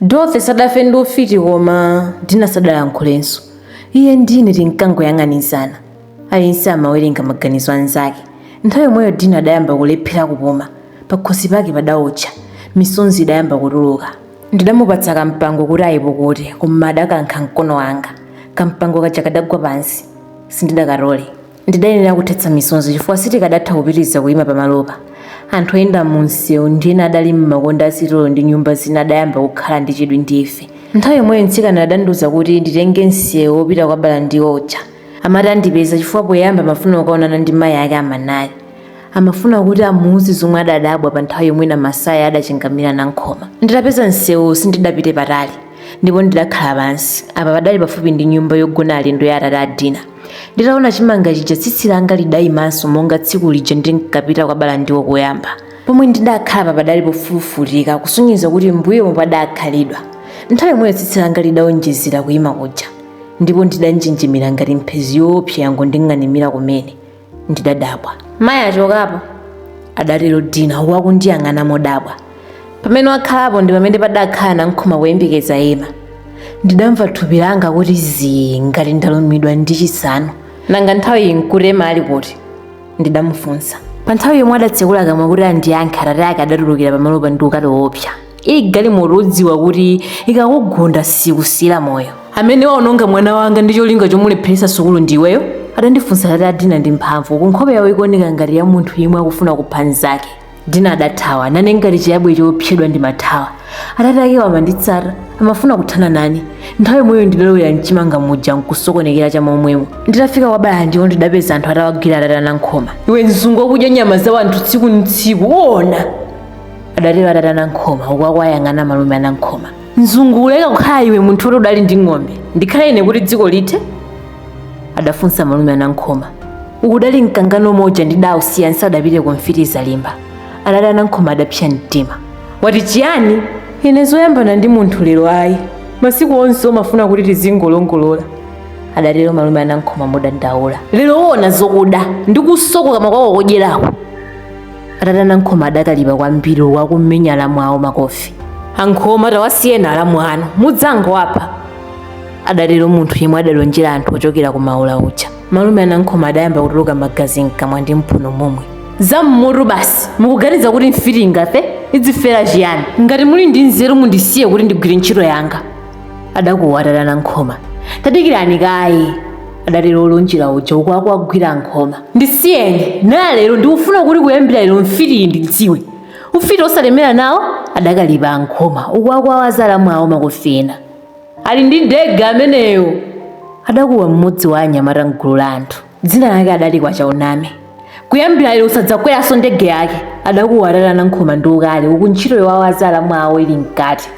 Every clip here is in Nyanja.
Dorothy sadafe ndi ufiti koma Dina sadalankhulenso. Iye ndi ine tinkangoyang'anizana. Aliyense amawerenga maganizo a mnzake. Nthawi yomweyo Dina adayamba kulephera kupuma. Pakhosi pake padaotcha. Misonzi idayamba kutuluka. Ndidamupatsa kampango kuti ayipukute koma adakankha mkono wanga. Kampango kaja kadagwa pansi. Sindidakatole. Ndidayenera kuthetsa misonzi chifukwa sitikadatha kupitiriza kuima pamalopa. Anthu oyenda mumsewu ndi ena adali m'makonde a sitolo ndi nyumba zina adayamba kukhala ndi chidwi ndi ife. Nthawi yomweyo mtsikanayo adandiuza kuti nditenge msewu wopita kwa Balandiwo uja. Amati andipeza chifukwa poyamba amafuna kukaonana ndi mayi ake a Manali. Amafuna kuti amuuze zomwe adadabwa pa nthawi yomwe Namasaya adachingamira Nankhoma. Nditapeza msewuwo sindidapite patali ndipo ndidakhala pansi. Apa padali pafupi ndi nyumba yogona alendo ya atate a Dina. Nditaona chimanga chija tsitsi langa lidaimanso monga tsiku lija ndinkapita kwa Balandiwo koyamba. Pomwe ndidakhalapa padali pofulufutika kusonyeza kuti m'mbuyomo padakhalidwa. Nthawi yomweyo tsitsi langa lidaonjezera kuima kuja ndipo ndidanjenjemera ngati mphezi yoopsa yangonding'animira kumene. ndidadabwa mayi achokapo adatero dina uku akundiyang'ana modabwa pamene wakhalapo ndi pamene padakhala nankhoma kuyembekeza ema ndidamva thupi langa kuti zii ngati ndalumidwa ndi chisanu nanga nthawiyi nkuti ema ali kuti ndidamufunsa pa nthawi yomwe adatsekula kamwa kuti andiyankhe atate ake adatulukira pamalopa ndi ukali woopsa ili galimoto udziwa kuti ikakugunda sikusiyira moyo amene waononga mwana wanga ndi cholinga chomulepheretsa sukulu ndiweyo adandifunsa atate a dina ndi mphamvu uku nkhope yawo ikuoneka ngati ya munthu yemwe akufuna kupha mnzake dina adathawa nane ngati chiyabwe choopsedwa ndimathawa atate akewo amanditsata amafuna kuthana nane nthawi yomweyo ndidalowera mchimanga muja nkusokonekera cha momwemo nditafika kwa balandiwo ndidapeza anthu atawagwira atate anankhoma iwe mzungu wakudya nyama za wanthu tsiku ndi tsiku uona adatero atate anankhoma uku akuwayang'ana malume anankhoma mzungu uleka kukhala iwe munthu woti udali ndi ng'ombe ndikhale ine kuti dziko lithe adafunsa malume anankhoma uku udali mkangano omwe uja ndidausiya ndisadapite ku mfitizalimba atate anankhoma adapsa mtima wati chiyani ine zoyambana ndi munthu lero ayi masiku onse umafuna kuti tizingolongolola adatero malume anankhoma modandaula lero uona zokuda ndikuswa kukamwa kwako kodyerako atate anankhoma adakalipa kwambiri uku akumenya alamu awo makofi ankhoma tawasiyeni alamu anu mudzangowapha adatero munthu yemwe adalonjera anthu ochokera ku maula uja malume anankhoma adayamba kutuluka magazi mkamwa ndi mphuno momwe zammutu basi mukuganiza kuti mfiti ingafe idzifera chiyani ngati muli ndi nzeru mundisiye kuti ndigwire ntchito yanga adakuwa atate anankhoma tadikirani kaye adatero olonjera uja uku akuwagwira ankhoma ndisiyeni nalero ndikufuna kuti kuyambira lero mfitiyi indidziwe ufiti osalemera nawo adakalipa ankhoma uku akuwawaza alamu awo makofi ena ali ndi ndege ameneyo adakuwa mmodzi wa anyamata mgulu la anthu dzina lake adali kwachauname kuyambira lero usadzakweranso ndege yake adakuwa atate anankhoma ndi ukali uku ntchito yowawaza alamu awo ili mkati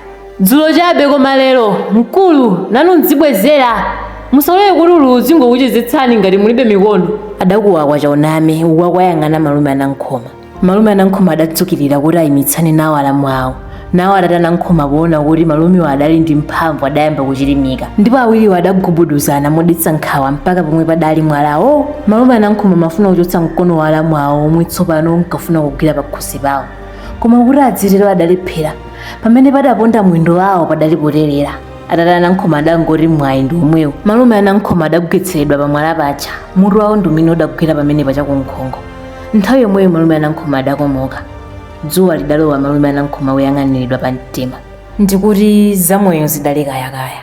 dzulo chabe koma lero mkulu nanu mdzibwezera musalole kuti ululu uzingokuchezetsani ngati mulibe mikono adakuwa kwachauname uku akuwayang'ana malume anankhoma malume anankhoma adadzukirira kuti ayimitsane nawo alamu awo nawo atate anankhoma poona kuti malumewo adali ndi mphamvu adayamba kuchirimika ndipo awiriwo adagubuduzana modetsa nkhawa mpaka pomwe padali mwalawo malume anankhoma amafuna kuchotsa mkono wa alamu awo omwe tsopano unkafuna kugwira pakhosi pawo koma kuti adzitero adalephera pamene padaponda mwendo wawo padali poterera atate anankhoma adangoti mwayi ndi omwewo malume anankhoma adagwetseredwa pamwala paja mutu wawo ndi umene udagwera pamene pachakunkhongo nthawi yomweyo malume anankhoma adakomoka dzuwa lidalowa malume anankhoma woyang'aniridwa pa mtima ndikuti zamoyo zidali kayakaya